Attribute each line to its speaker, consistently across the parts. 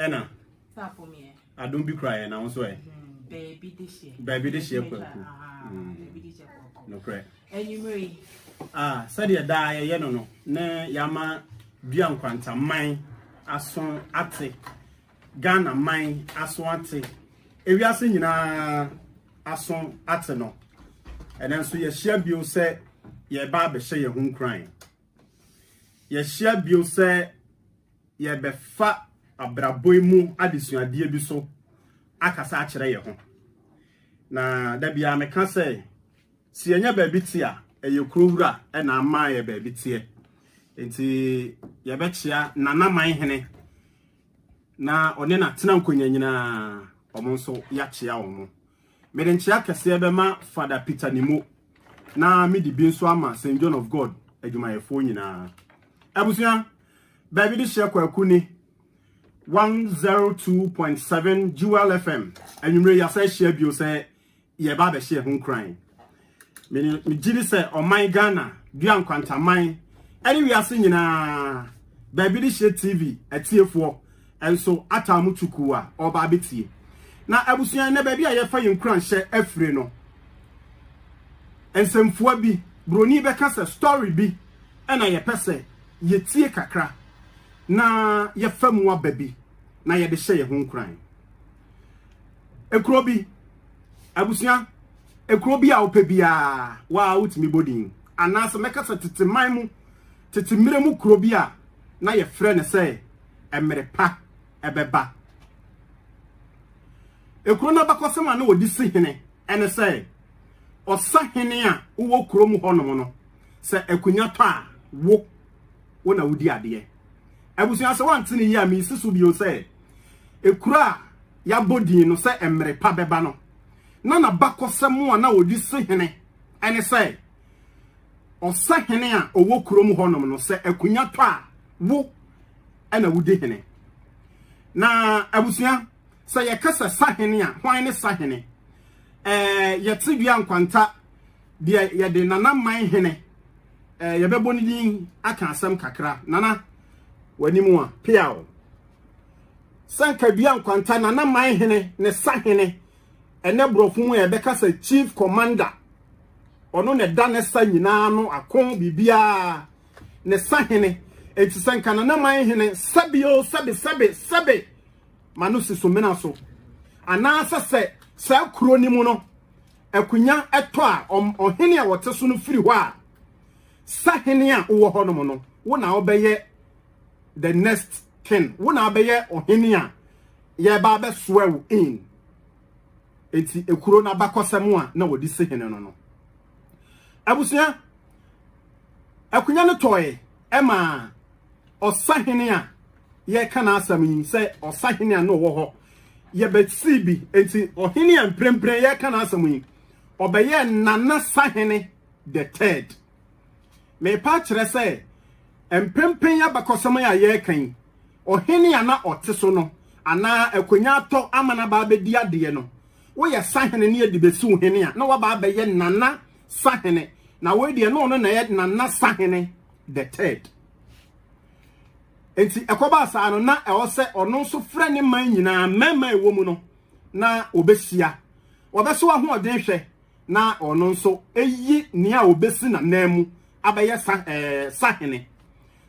Speaker 1: ɛna
Speaker 2: adom bi kura
Speaker 1: yɛ na nso ɛ
Speaker 2: baabi de hyɛ kwaku
Speaker 1: nokorɛ sɛdeɛ daa yɛyɛ no no ne yɛama dua nkwantaman aso ate Ghana man aso ate, ewiase nyinaa aso ate no, ɛnɛ nso yɛahyia bio sɛ yɛreba abɛhyɛ yɛn ho nkuran. Yɛahyia bio sɛ yɛbɛfa abrabɔ yi mu adesuadeɛ bi so akasa akyerɛ yɛn ho. Na da biara meka sɛ, sɛ yɛnyɛ baabi te a, ɛyɛ kuro wura na ama yɛ baabi teɛ. Nti yɛbɛkyea nanaman hene na ɔne no atena nkonya nyinaa, wɔn nso yɛakyea wɔn. Mede nkyea kɛseɛ bɛma Fada Peter Nimo, na mede bi nso ama St. John of God adwumayɛfoɔ nyinaa. Abusua, baabi de hyɛ kwaku ni 102.7 Jewel FM, anwummerɛ yi asa ahyia bio sɛ yɛreba abɛhyɛ ɛho nkuran. Megye di sɛ ɔman Ghana dua nkwantaman ɛne wiase nyinaa baabi de hyɛ TV atiefoɔ nso ataa mu tukuu a ɔba abɛtie. Na abusua nnɛ baabi a yɛfa yɛn nkuranhyɛ afire no, nsɛmfua bi, buroni bɛka sɛ story bi ɛna yɛpɛ sɛ yɛtie kakra na yɛfa mu aba bi na yɛde hyɛ yɛn ho nkuran. ekuro bi abusua ekuro bi a wopɛ biara waa wotumi bɔ din anaasɛ mɛka sɛ tete man mu tete mmerɛ mu kuro bi a na yɛfrɛ no sɛ mmerɛ pa ɛbɛba ekuro no abakɔsɛm a na wɔde si hene ɛne sɛ ɔsa hene a wowɔ kurom hɔnom no sɛ akonnwa tɔ a wo wo na wodi adeɛ. Abusua sɛ wɔante no yie a mesi so bio sɛ ekuro a yɛabɔ din no sɛ mmere pa bɛba no na n'abakɔsɛm a na wɔde si hene ɛne sɛ ɔsɛ hene a ɔwɔ kurom hɔnom no sɛ akunya tɔ a wo ɛna wodi hene. Na abusua sɛ yɛka sɛ sahene a hwan ne sahene? Ɛɛ yɛte dua nkwanta deɛ yɛde nana man hene eh, yɛbɛbɔ ne din aka asɛm kakra nana w'anim a peaw sankadua nkwanta nana man hene ne sa hene ɛnɛ borɔfo mu a yɛbɛka sɛ chief commander ɔno na ɛda ne sa nyinaa no ako biribiara ne sa hene eti sɛ nka nana man hene sɛbi o sɛbi sɛbi sɛbi ma no si so mena so anaasɛ sɛ saa kuro no mu no akonya tɔ a, ɔhene a ɔte so no firi hɔ a, sahene a wowɔ hɔ nom no, wo na wobɛyɛ the next king. Wo na abɛyɛ ɔhene a yɛba abɛsoa wo in. Eti ekuro na bakɔsɛm a na wɔde si hene no no. Abusua, akonya no tɔe ma ɔsahene a yɛreka n'asɛm yi sɛ ɔsahene a na ɔwɔ hɔ yɛbɛsii bi enti ɔhene a mprempren yɛreka n'asɛm yi ɔbɛyɛ nana sahene the third mepa kyerɛ sɛ mprempren yɛabakɔsɛm a yɛreka yi ɔhene a na ɔte so no anaa akonya atɔ ama no abaa bɛdi adeɛ no woyɛ sahene ne yɛde bɛsiw hene a na wabaa bɛyɛ nana sahene na wei deɛ na ɔno na yɛ nana sahene the third nti ɛkɔba saa no na ɛwɔ sɛ ɔno nso frɛ ne man nyinaa mmarima ɛwɔ mu no na ɔbɛhyia ɔbɛso ahoɔden hwɛ na ɔno nso ɛyi nea ɔbɛsi nanan mu abɛyɛ sa ɛɛ eh, sahene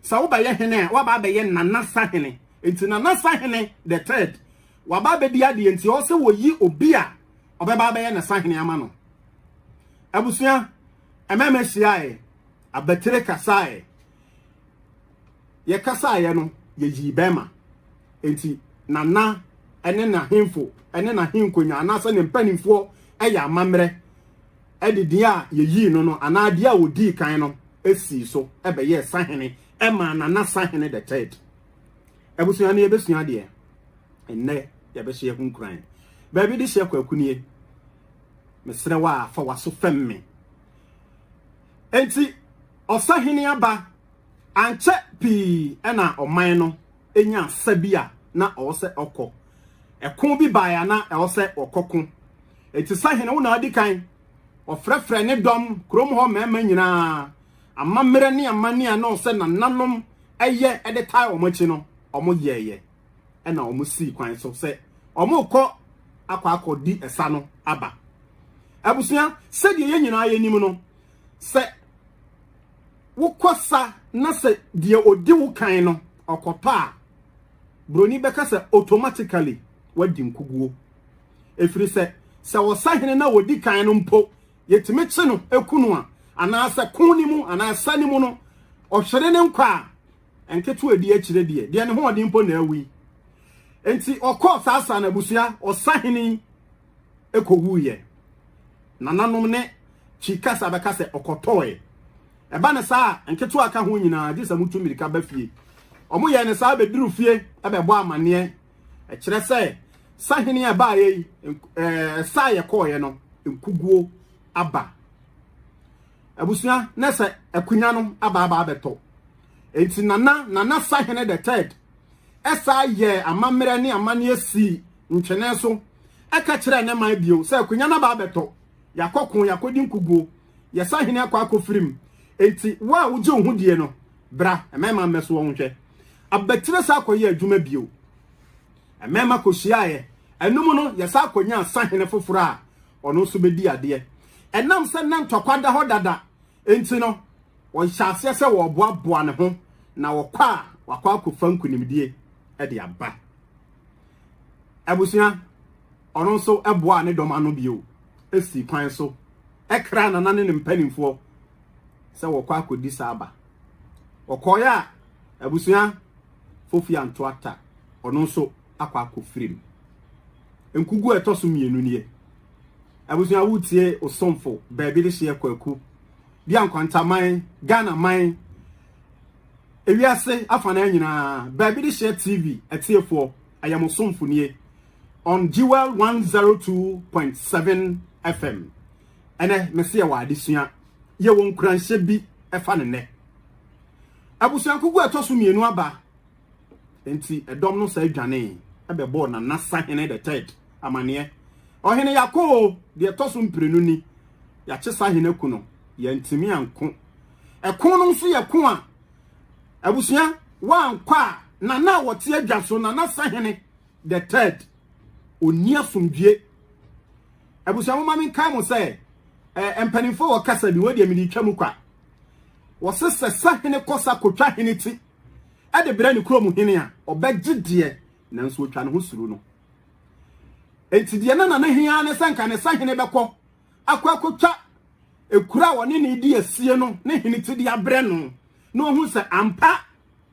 Speaker 1: sɛ wobɛyɛ hene a waba abɛyɛ nana sahene nti nana sahene the third waba abɛdi adeɛ nti ɔsɛ wɔyi obi a ɔbɛba abɛyɛ ne sahene ama no abusua ɛmɛɛmɛ hyiaeɛ abatire kasaeɛ yɛkasaeɛ no yɛyii bɛrima nti nana ɛne n'ahemfo ɛne n'ahenkonya anaasɛ ne mpanimfoɔ ɛyɛ amammerɛ ɛde deɛ a yɛyii no no anaa deɛ a wɔdii kan no ɛsii so ɛbɛyɛɛ sahene ɛmaa nana sahene the third abusua no yɛbɛsua deɛ ɛnnɛ yɛbɛhyɛ ho nkuran baabi de hyɛ kwakunie Mesrɛ wo a, fa w'aso fɛm me. Enti ɔsahene aba. Ankyɛ pii na ɔman no nya asa bi a na ɔwɔ sɛ ɔkɔ. Ɛko bi bae a na ɛwɔ sɛ ɔkɔko. Enti sahene wo na adi kan. Ɔfrɛfrɛ ne dɔm, kurom hɔ mmarima nyinaa, amammerɛ ne amanne a na ɔsɛ nananom ɛyɛ de tae wɔn akyi no, wɔyɛeɛ. ɛna wɔn sii kwan so sɛ wɔn kɔ akɔ akɔ di ɛsa no aba abusua sɛdeɛ yɛn nyinaa yɛ nim no sɛ wokɔ sa na sɛ deɛ odi wo kan no ɔkɔtɔ a broni bɛka sɛ automatically wadi nkuguo ɛfiri sɛ sɛ ɔsahene na ɔdi kan no mpo yɛtumi kye no ɛku no a anaasɛ ko ne mu anaasɛ ne mu no ɔhwere ne nkwa a nketewa edi akyire deɛ deɛ ne ho ɔden mpo na awi nti ɔkɔɔ saa saa na abusua ɔsahene ɛkɔwuiɛ nananom ne kyi kasa bɛka sɛ ɔkɔtɔɔe ɛba ne saa nketewa ka ho nyinaa gye sɛ motu mmirika ba fie ɔmo yɛ ne saa bɛduru fie ɛbɛbɔ amanneɛ ɛkyerɛ sɛ sahene a ɛbaeɛ yi ɛɛ saa yɛ kɔɔeɛ no nkuguo aba Abusua na sɛ akunya no aba aba abɛtɔ. Enti nana nana sahene the third ɛsa yɛ amammerɛ ne amanneɛ si ntwene so ɛka kyerɛ ne man bio sɛ akunya no aba abɛtɔ. Yakɔ ko yakɔdi nkuguo yɛ sahene akɔ akɔfirim. Enti wo a wogye wo ho die no bra ɛmɛma mmɛso wɔn hwɛ. Abatire sa akɔyɛ adwuma bio. Mmarima kɔhyiaeɛ. Ɛno mu no, yɛsan kɔnyaa sahene foforɔ a ɔno nso bɛdi adeɛ. Ɛnam sɛ na ntɔkwa da hɔ dada nti no, wɔhyɛ aseɛ sɛ wɔreboaboa ne ho na wɔkɔ a wakɔ akɔfa nkonimdie de aba. Abusua, ɔno nso boaa ne dɔm ano bio sii kwan so kra nana ne ne mpanimfoɔ sɛ wɔkɔ akɔdi saa aba. Ɔkɔeɛ a, abusua Fofi Anto Atta, ɔno nso akɔ akɔfiri mu. Nkuguo a ɛtɔ so mmienu nie. Abusua wotie Osomfo Baabi de hyeɛ Kwaku bi a Nkwantaman, Ghana man, ewiase afanaa nyinaa, Baabi de hyeɛ TV atiefoɔ, ɛyɛ mo somfo nie on Jewel 102.7 FM. Ɛnɛ, mese yɛwɔ adesua, yɛwɔ nkuranhyɛ bi ɛfa ne nnɛ. Abusuankugu a ɛtɔ so mmienu aba, nti ɛdɔm no saa dwanee ɛbɛbɔɔ Nana Sahene the third amaneɛ. Ɔhene yako o, deɛ ɛtɔ so mprenu ni, yɛakye Sahene aku no, yɛantumi anko. Ɛko no nso yɛ ko a, abusua, woankɔ a, Nana a wɔte adwa so, Nana Sahene the third, ɔnni asomdwie. Abusua mo ma me nkae mo sɛ eh, mpanimfoɔ wɔ kasa bi wɔ deɛ mede twa mu kwa. Wɔse sɛ sahene kɔsa kɔtwa hene ti ɛde brɛ ne kurom hene a ɔbɛgye deɛ nanso ɔtwa ne ho suro no. Enti deɛ na nana hia ne sɛ nka ne sahene bɛkɔ akɔ akɔtwa ekura a wɔne ne di asie no ne hene ti de abrɛ no na ɔhu sɛ ampa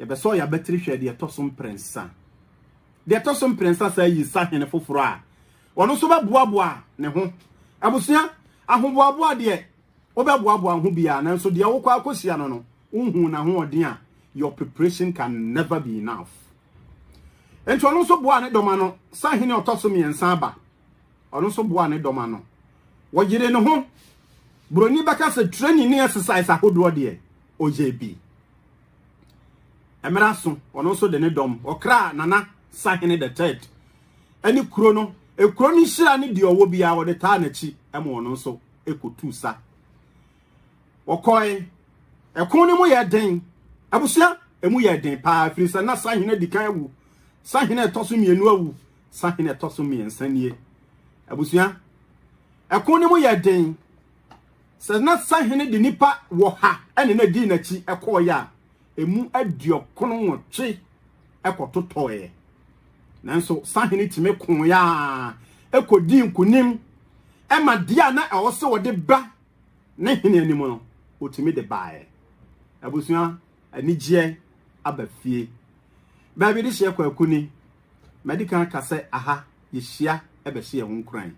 Speaker 1: yɛbɛsɔ yɛn abatiri hwɛ deɛ ɛtɔ so mprɛnsa deɛ ɛtɔ so mprɛnsa saa yi sahene foforɔ a ɔno nso bɛboaboa ne ho abusua ahoboaboa deɛ wobɛboaboa ho biara nanso deɛ wokɔ akɔhyia no no wohu n'ahoɔden a your preparation can never be enough nti ɔno nso boa ne dɔma no sahene ɔtɔ so mmiɛnsa aba ɔno nso boa ne dɔma no wɔyere ne ho buroni bɛka sɛ training ne exercise ahodoɔ deɛ ɔyɛɛ bi. Mmerɛ aso, ɔno nso de ne dɔm, ɔkraa Nana Sahene the third ne kuro no, kuro no nhyira ne deɛ ɔwɔ biara, wɔde taa n'akyi ma ɔno nso kɔtuu sa. Wɔkɔe, ɛko no mu yɛ den, abusua ɛmu yɛ den paa, ɛfiri sɛ na Sahene di kan awu, Sahene ɛtɔ so mmienu awu, Sahene ɛtɔ so mmiɛnsa nie. Abusua, ɛko no mu yɛ den. Sɛ na sahene de nnipa wɔ ha ne na dii n'akyi kɔɔeɛ a, ɛmu aduɔkron nwɔtwe kɔtotɔeɛ. Nanso sahene tumi kooeɛ a kɔdii nkonim ma deɛ a na ɛwɔ sɛ wɔde ba ne hene anim no, wɔtumi de baeɛ. Abusua, anigyeɛ aba fie. Baabi de hyeɛ kwaku ni. Madi kan ka sɛ aha yɛhyia bɛhyɛ yɛn ho nkuran.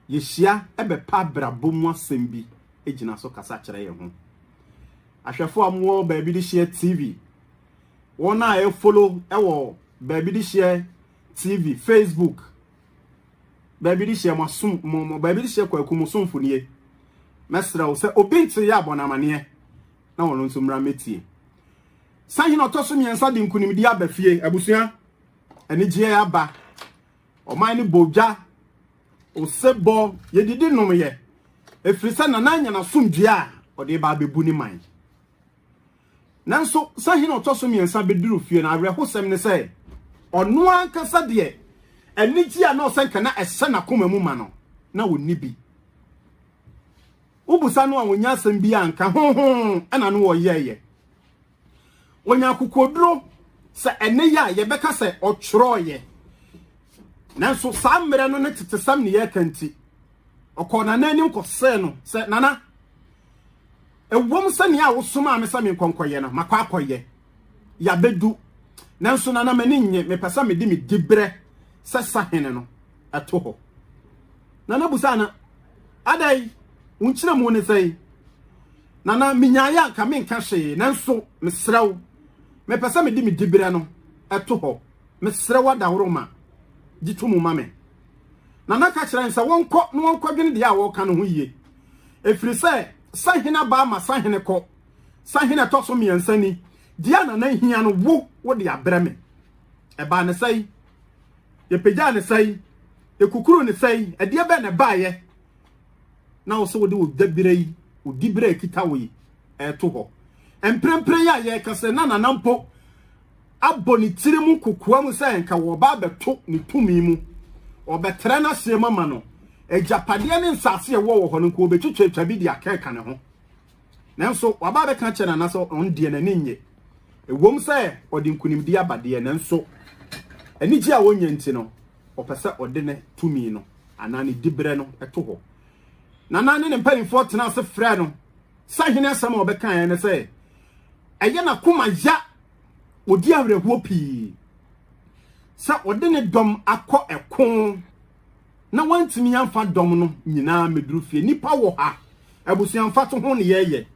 Speaker 1: Yehyia bɛpɛ abrabɔ mu asɛm bi gyina so kasa kyerɛ yɛn ho. Ahwɛfo a wɔwɔ baabi de hyɛ TV, wɔn a ɛfolo wɔ baabi de hyɛ TV, Facebook, baabi de hyɛ mo asom mo mo baabi de hyɛ kwaku mo somfo nie. Mɛsrɛ wo sɛ obi nkyere yɛ abɔ n'amaneɛ na wɔn nso mmra mɛtie. Sahene ɔtɔ so mmiɛnsa de nkunimdie aba fie abusua anigyeɛ aba. ɔman no bɔ gya osebɔ yɛdidi nom yɛ ɛfiri sɛ nana anya n'asomdwoeɛ a ɔde ba abɛbu ne man nanso sɛ hene ɔtɔ so mmiɛnsa bɛduru fie no awerɛhosɛm ne sɛ ɔno ankasa deɛ anigye a na ɔsɛ nka na ɛhyɛ n'akoma mu ma no na ɔnni bi wobusa no a wɔnya asɛm bi a nka hoho ɛna no wɔyɛɛyɛ Wɔnya akokoduro sɛ ɛne yɛ a yɛbɛka sɛ ɔtwerɛeɛ. Nanso saa mmerɛ no ne tetesɛm ne yɛreka nti, ɔkɔɔ Nana anim kɔsee no sɛ, Nana, ɛwom sɛ nea a wosomaa me sɛ menkɔnkɔyɛ no, makɔ akɔyɛ. Yɛabɛdu. Nanso Nana, m'ani nnye, mepɛ sɛ mede me diberɛ sɛ sahene no ɛto hɔ. Nana busaa no, adɛn? Wo nkyerɛmu ne sɛn? Nana, menyaeɛ a anka menka hwee, nanso mesrɛ wo, mepɛ sɛ mede me diberɛ no to hɔ. Mesrɛ wo adaworoma, gye to mu ma me. Nana ka kyerɛɛ no sɛ wɔnkɔ na wɔnkɔdwene deɛ a wɔreka no ho yie, ɛfiri sɛ sahene abaa ma sahene kɔ. Sahene ɛtɔ so mmiɛnsa ni, deɛ a Nana hia no wo wode abrɛ me. Ɛbaa ne sɛe, yɛpagyaa ne sɛe, yɛkukuru ne sɛe, ɛdeɛ bɛn na ɛbaeɛ? na wo sɛ wode wo dabira yi, wo dibira a ɛkita wo yi, ɛreto hɔ. Mprempren a yɛreka sɛ na Nana mpo abɔ ne tiri mu kokoa mu sɛ nka wɔba abɛto ne tumi mu, ɔbɛtrɛ n'aseɛ mu ama no, agyapadeɛ ne nsase a ɛwɔ wɔ hɔ no nka wɔbɛtwitwatwa bi de akɛka ne ho. Nanso waba abɛka akyerɛ Nana sɛ ɔno deɛ n'ani nnye. Ɛwom sɛ ɔde nkonimdie aba deɛ, nanso anigye a ɔnya nti no, ɔpɛ sɛ ɔde ne tumi no anaa ne diberɛ no to hɔ. Nana ne ne mpanimfoɔ tena ase frɛ no sɛ hene asɛm a ɔbɛkaeɛ ne sɛ ɛyɛ n'akoma ya ɔdi awerɛhoɔ pii sɛ ɔde ne dɔm akɔ ɛko na wantumi amfa dɔm no nyinaa meduru fie nipa wɔ ha abusua mfa to ho ne yɛyɛ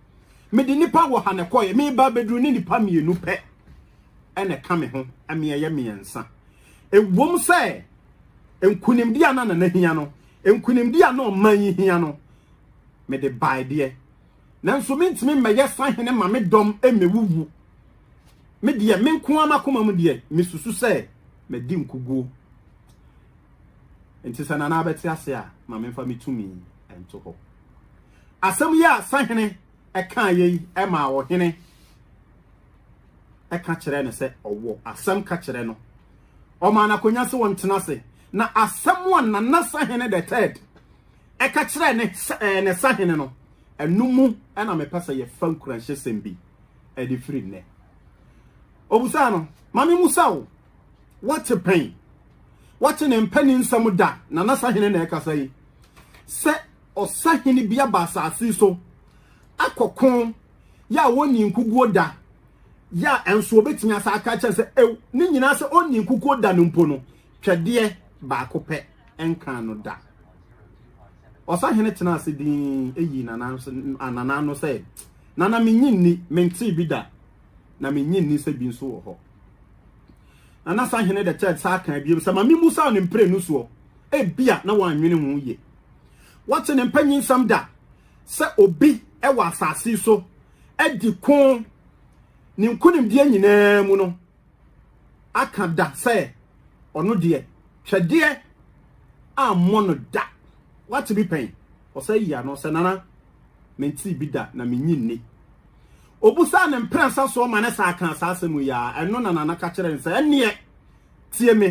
Speaker 1: mede nipa wɔ ha na ɛkɔyɛ meba bɛduru ne nipa mmienu pɛ ɛna ka me ho ɛmeɛyɛ mmiɛnsa Ɛwom sɛ nkonimdi a na Nana hia no, nkonimdi a na ɔman yi hia no, mede bae deɛ, nanso mentumi mmɛyɛ sahene ma me dɔm mmɛwuwu. Me deɛ, me nko ara m'akoma mu deɛ, mesusu sɛ madi nkoguo. Enti sɛ Nana bɛte ase a, ma memfa me tumi nto hɔ. Asɛm yi a sahene kaeɛ yi maa ɔhene ɛka kyerɛ no sɛ ɔwɔ asɛm ka kyerɛ no ɔma no akonya sɛ wɔntena ase na asɛm a nana sahene the third ɛka kyerɛ ne ɛɛ ne sahene no ɛno mu ɛna mepɛ sɛ yɛfa nkuranhyɛ sɛm bi ɛde firi nnɛ obusaa no maame musa o wɔte pɛn wɔte ne mpɛni nsɛm da nana sahene na ɛkasa yi sɛ ɔsahene bi aba asase so akɔko yɛ a wɔnnii nkukuo da, yɛ a nso wɔbɛtumi asa aka kyerɛ sɛ ew ne nyinaa sɛ ɔnnii nkukuo da no mpo no, twɛdeɛ baako pɛ nkaa no da. Ɔsahene tena ase din eyi nana anana ano sɛ nana menyi nni mentee bi da na menyi nni sɛ bi nso wɔ hɔ. Nana sahene de kyɛɛ saa kan biem sɛ ma memu saa no mprenu soɔ ebia na wɔanwene ho yie. Wɔte ne mpanyinsɛm da sɛ obi wɔ asase so adi ko ne nkonimdeɛ nyinaa mu no aka da sɛ ɔno deɛ twɛdeɛ ammɔ no da wate bi pɛn ɔsɛ yi ano sɛ nana mentee bi da na menyi nni obusaa ne mprɛnsa soɔ ma ne saa ka saa asɛm yi a ɛno na nana ka kyerɛ ne sɛ ɛneɛ tie me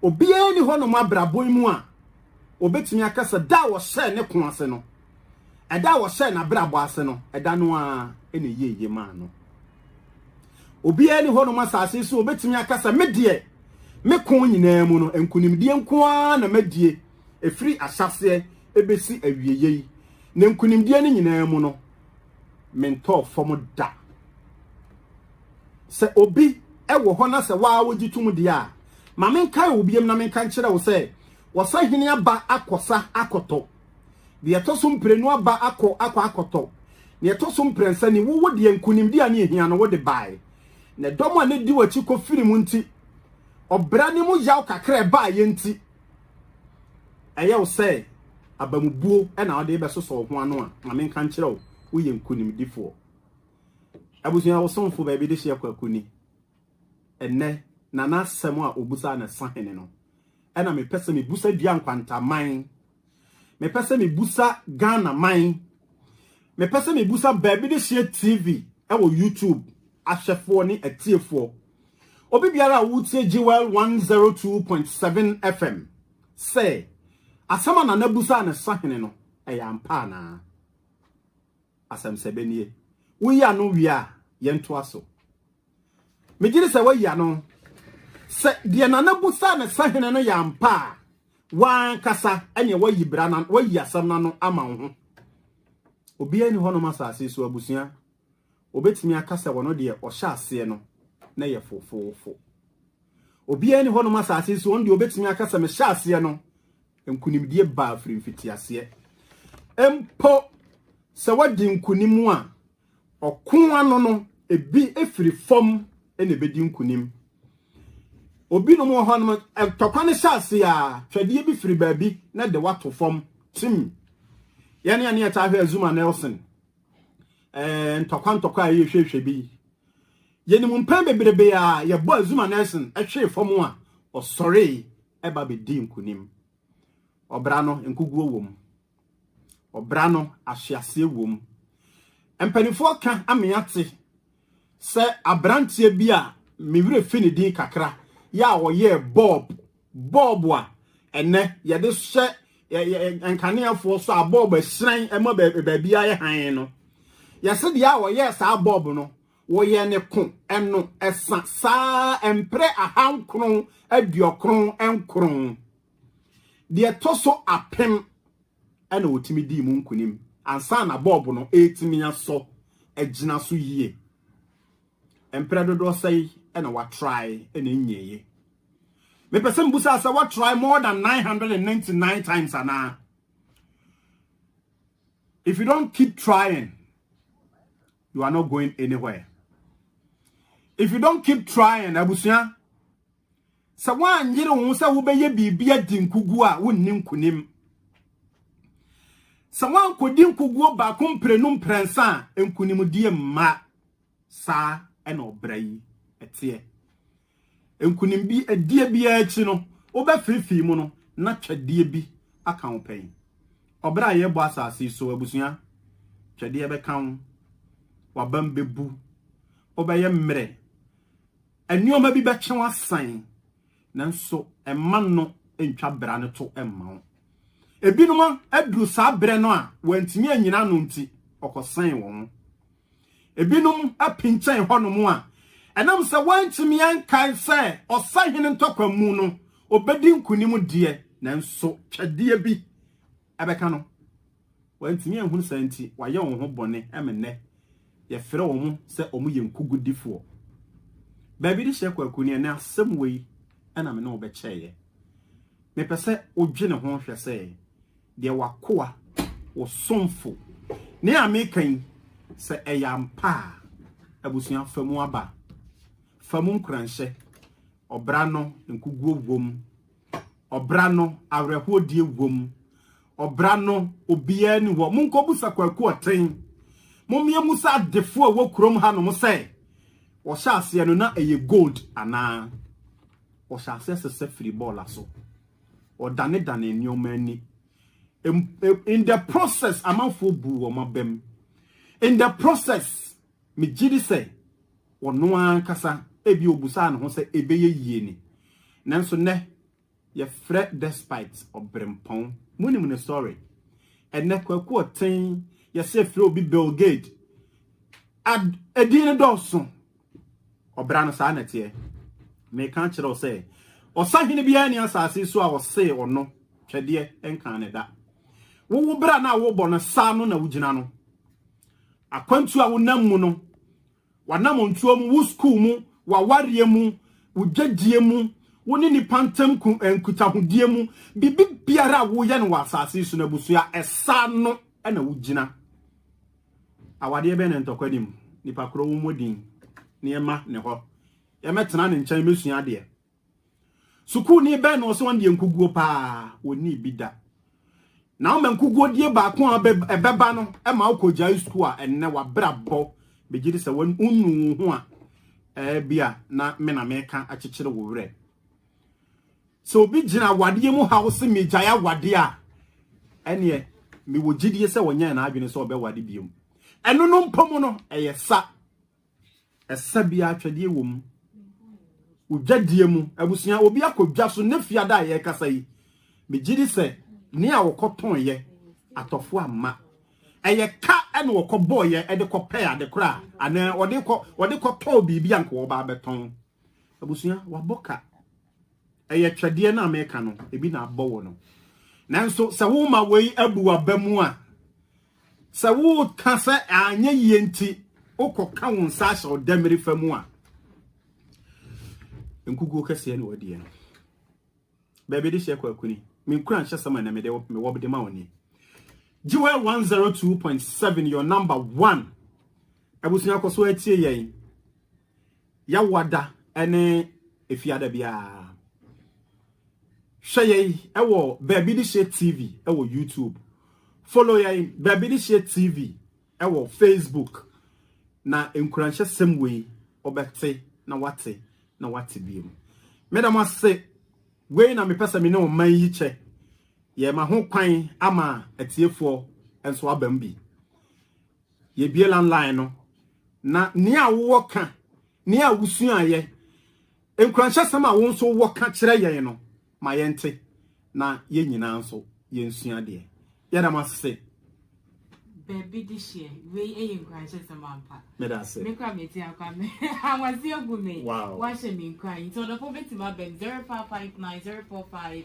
Speaker 1: obiara ni hɔ nom abrabɔ mu a obetumi aka sɛ da a wɔhyɛɛ ne ko ase no, ɛda a wɔhyɛɛ n'abrabɔ ase no, ɛda no ara na ɛyɛ yie maa no. Obiara ni hɔnom asase so obetumi aka sɛ me deɛ me ko nyinaa mu no nkonimdie nko ara na madie ɛfiri ahyɛaseɛ ɛbɛsi awieeɛ yi na nkonimdie no nyinaa mu no mentɔɔ fam da sɛ obi ɛwɔ hɔ na sɛ waa wogye tom deɛ a ma menkae wo biam na menka nkyerɛ wo sɛ wɔsahene aba akɔ sa akɔtɔ, deɛ ɛtɔ so mprenu aba akɔ akɔ akɔtɔ, deɛ ɛtɔ so mprɛnsa ni, wowo deɛ nkonimdi a ne ɛhia no wode bae, na ɛdɔm a ne di w'akyi kɔ firi mu nti, ɔbra ne mu yaw kakra ɛbaeɛ nti, ɛyɛ wo sɛ abamubuo na wode bɛsosɔ wo ho ano a, ma menka nkyerɛ wo, woyɛ nkonimdifoɔ. Abusua wo somfo baabi de hyeɛ kwaku ni. ɛnnɛ na n'asɛm a obusaa no sahene no ɛna mepɛ sɛ mebusa dua nkwantaman mepɛ sɛ mebusa Ghana man mepɛ sɛ mebusa baabi de hyɛ TV ɛwɔ YouTube ahwɛfoɔ ne atiefoɔ obi biara a wotie Jewel 102.7 FM sɛ asɛm a nana busaa no sahene no ɛyɛ ampa anaa asɛm sɛ bɛnie woyi ano wie a yɛntoa so Megye di sɛ woayi ano. Sɛ deɛ Nana busaa ne sahene no yɛ ampa a, wankasa ɛneɛ wayi bra na wayi asɛm no ano ama wo ho. Obiara ni hɔnom asase so abusua. Obetumi aka sɛ wɔno deɛ ɔhyɛ aseɛ no na yɛ fofoofo. Obiara ni hɔnom asase so ɔno deɛ obetumi aka sɛ mehyɛ aseɛ no nkunimdie baa firi mfitiaseɛ. Mpo sɛ wadi nkunim a Ɔko ano no, ebi firi fam na ebedi nkonim. Obinom wɔ hɔnom, ntɔkwa no hyɛ ase a, twɛdeɛ bi firi baabi na de wato fam tim. Yɛne yɛne yɛtaa hwɛ Zuma Nelson ɛɛ ntɔkwa ntɔkwa a yɛhwɛhwɛ bi. Yɛnim mpɛn bebrebe a yɛbɔ Zuma Nelson ɛhwee fam a, ɔsɔree ɛba bɛdi nkonim. Ɔbra no nkuguo wom. Ɔbra no ahweaseɛ wom. Mpanimfoɔ ka ama yɛate sɛ aberanteɛ bi a me werɛ fi ne din kakra yɛ a ɔyɛɛ bɔɔb bɔɔb a ɛnɛ yɛde hyɛ nkaneɛfoɔ so a bɔɔb ɛhyerɛn ɛma baabi ayɛ hann no yɛse deɛ a ɔyɛɛ saa bɔɔb no Wɔyɛ ne ko ɛno ɛsa saa mpere aha nkron aduokron nkron. Deɛ tɔ so apem ɛna ɔtumi dii mu nkunim ansa na bɔɔbo no ɛtumi asɔ agyina so yie. Mpere dodoɔ sɛi ɛna watrae ɛna ɛnyɛye. Mepɛ sɛ mbusa sɛ watrae more than 999 times anaa? If you don't keep trying, you are not going anywhere if you don't keep trying abusua sɛ woanyere wo ho sɛ wobɛyɛ biribi adi nkuguo a wonni nkonim sɛ woankɔdi nkuguo baako mprenu mprɛnsa a nkonimdie mma saa ɛna ɔbra yi ɛteɛ Nkonimdi ɛdeɛ biara akyi no, wobɛfeefee mu no na twɛdeɛ bi aka wo pɛn. Ɔbrɛ a yɛrebɔ asase yi so, abusua, twɛdeɛ bɛka wo, w'abam bɛbu, wobɛyɛ mmerɛ, nneɛma bi bɛkye wo asan, nanso mma no ntwa bra no to mma wo. Ebinom aduru saa berɛ no a wɔantumi anyina ano nti, ɔkɔsɛn wɔn. Ebinom apinkyɛn hɔnom a ɛnam sɛ wɔantumi ankae sɛ ɔsahene ntɔkwa mu no obedi nkonim deɛ, nanso twɛdeɛ bi bɛka no. Wɔantumi anhunu saa nti wɔayɛ wɔn ho bɔne ma nnɛ yɛfrɛ wɔn sɛ wɔyɛ nkogudifoɔ. Baabi de hyɛ kwaku ne ɛnɛ asɛm wei na me ne wo bɛkyɛeɛ. Mepɛ sɛ wodwene ho hwɛ sɛ Deɛ w'akoa, wo somfo. Ne a meka yi, sɛ ɛyɛ ampa a, abusua, fa mu aba. Fa mu nkuranhyɛ. Ɔbra no, nkuguo wom. Ɔbra no, awerɛhoɔdie wom. Ɔbra no, obiara ni hɔ. Monkɔbusa Kwaku Ɔten. Mommea mu sɛ adefoɔ a ɛwɔ kurom hanom sɛ, wɔhyɛ aseɛ no na ɛyɛ gold anaa? Wɔhyɛ aseɛ sesa firi bɔɔla so. ɔdanedane nneɛma ani in the process amanfoɔ bu wɔn abam in the process megye di sɛ ɔno ankasa ebi obusaa ne ho sɛ ebɛyɛ yie ni nanso nnɛ yɛfrɛ despite ɔbrempɔn munim ne story ɛnɛ kwaku ɔten yɛsɛ frɛ obi belgade ad edin no dɔɔso Ɔbra no saa na ɛteɛ. Meka kyerɛ wo sɛ, ɔsahene biara ni asase so a ɔsee ɔno twɛdeɛ nkaa ne da. Wowo bra no a wobɔ no saa no na wogyina no. Akwantu a wonam mu no, wanam ntuo mu, wo sukuu mu, wawareɛ mu, wo gyedie mu, wo ne nipa ntam eh, nkutahodie mu, biribi biara a woyɛ no wɔ asase so no abusua, ɛsaa no na wogyina. Awadeɛ bɛn na ntɔkwa nim? Nipa korɔ wo mmɔ din na yɛma ne hɔ. Yɛmɛtena ne nkyɛn mɛsua adeɛ. Sukuuni bɛn na ɔsɛ wɔn deɛ nkuguo paa wɔnni bi da. Na ama nkuguo die baako a ɛbɛba no ɛma wokɔ gyae sukuu a ɛnnɛ wabrabɔ bɛgye di sɛ wɔn nnu wo ho a ɛɛ bi a na me na meka akyekyere wo werɛ. sɛ obi gyina awadeɛ mu haw se megyae awadeɛ a ɛneɛ mewɔ gyidie sɛ ɔnyɛɛ n'adwene sɛ ɔbɛwade biom ɛno no mpo mu no ɛyɛ sa ɛsa biara atwɛdeɛ wɔ mu odwadie mu abusua obi akɔdwa so ne fiada a yɛkasa yi megye di sɛ ne a wɔkɔtɔn yɛ atɔfo amma ɛyɛ ka ɛna wɔkɔbɔɔ yɛ ɛde kɔpɛ ade koraa anaa ɔde kɔ ɔde kɔtɔɔ biribi a nka wɔba abɛtɔn Abusua, wabɔ ka. Ɛyɛ twɛdeɛ no a meka no, ebi na abɔ wɔ no. Nanso sɛ woma wei abu waba mu a, sɛ woka sɛ anyɛ yie nti wokɔka wo nsa ahyɛ ɔdamiri fa mu a, nkukuo kɛseɛ na wɔdeɛ no. Baabi de hyɛ kɔ akuni. Menkura nhyɛ sɛm a na mede mewɔ de ma wo ni. Jewel 102.7 your number one. Abusua kɔ so atie yɛn. Yawoada ne Efiada biara. Hwɛ yɛn wɔ Baabi De Hyɛ TV wɔ YouTube. Follow yɛn Baabi De Hyɛ TV wɔ Facebook. Na nkuranhyɛ sɛm wei ɔbɛte na wate na wate bi mu. Meda mo ase. Wei na mepɛ sɛ me ne ɔman yi kyɛ. Yɛma ho kwan ama atiefoɔ nso abam bi. Yɛbue landline no na nea wowɔ ka, nea wusuaeɛ, nkuranhyɛsɛm a wo nso wowɔ ka kyerɛ yɛn no ma yɛnte na yɛn nyinaa nso yɛnsua deɛ. Yɛda mo ase. Baabi
Speaker 2: de hyɛ wei ɛyɛ nkuranhyɛsɛm ampa. Meda ase. Me kora mete
Speaker 1: akwa me
Speaker 2: awase agu me. Wow. Wahyɛ me nkuran
Speaker 1: nti
Speaker 2: ɔdɔfo bɛtumi abɛm 0559 045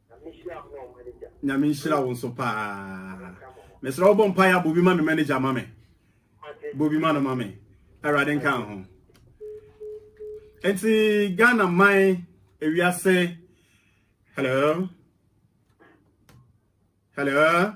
Speaker 1: Nyame nhyira wo nso paa. Mesrɛ wo bɔ mpaeɛ a bobi ma me manager ma me. Bobi ma no ma me. Awurade nka ho. Enti Ghana man ewiase hello hello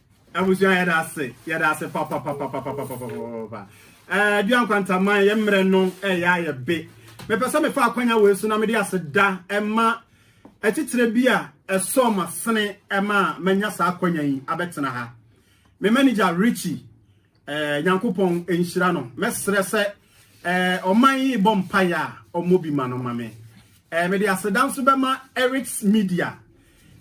Speaker 1: Abusua yɛda ase yɛda ase papapapapapapapapa ɛɛ eh, dua nkwantaman yɛ mmerɛ no ɛyɛ eh, ayɛ be mepɛ sɛ mefa akwanya wei so na mede aseda ɛma atitire bi a ɛsɔ ma sene ɛma a manya saa akwanya yi abɛtena ha me manager Richie Eh, Nyankopɔn nhyira no. Mɛsrɛ sɛ eh, ɔman yi bɔ mpaeɛ a ɔmmɔ bi ma no ma me. Eh, mede aseda nso bɛma Eric's Media.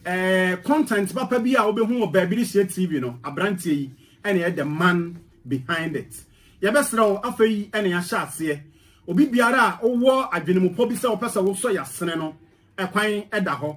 Speaker 1: Eh, content papa bi a wobɛhu wɔ baabi de hyɛ TV no, aberanteɛ yi ɛna ɛyɛ the man behind it. Yɛbɛsrɛ wo afei ɛna yɛahyɛ aseɛ. Obi biara a wowɔ adwenemupɔ bi sɛ wopɛ sɛ wosɔ yɛasene no, ɛkwan ɛda hɔ.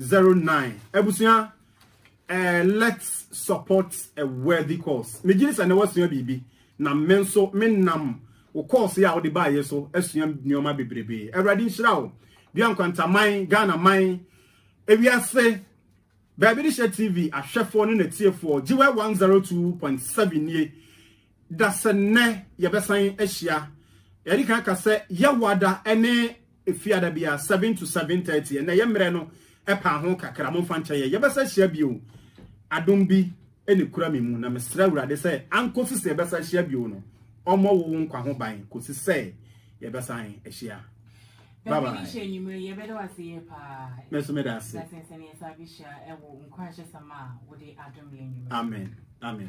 Speaker 1: zero nine abusua ɛɛ let's support a worthy cause megye sɛ na wasua biribi na me nso me nam wo course yi a wode baayɛ so asua nneɛma bebrebe awurade nhyira wo dua nkwantaman ghana man ewiase baabi de hyɛ tv ahwɛfoɔ ne n'atiefoɔ gyewa one zero two point seven nie. da sɛ nnɛ yɛbɛsan ahyia. Yɛde kan ka sɛ yɛwada ne efiada bia seven to seven thirty. Ɛnna yɛ mmerɛ no ɛpaa ho kakra mo nfa nkyɛn yɛ. Yɛbɛsa hyia bio. Adom bi ɛna kura mi mu na mesrɛ awurade sɛ ankosi sɛ yɛbɛsa hyia bio no ɔmmɔ wo nkwa ho ban kosi sɛ yɛbɛsan ahyia. Bye bye. Mɛso meda ase. Amen. Amen.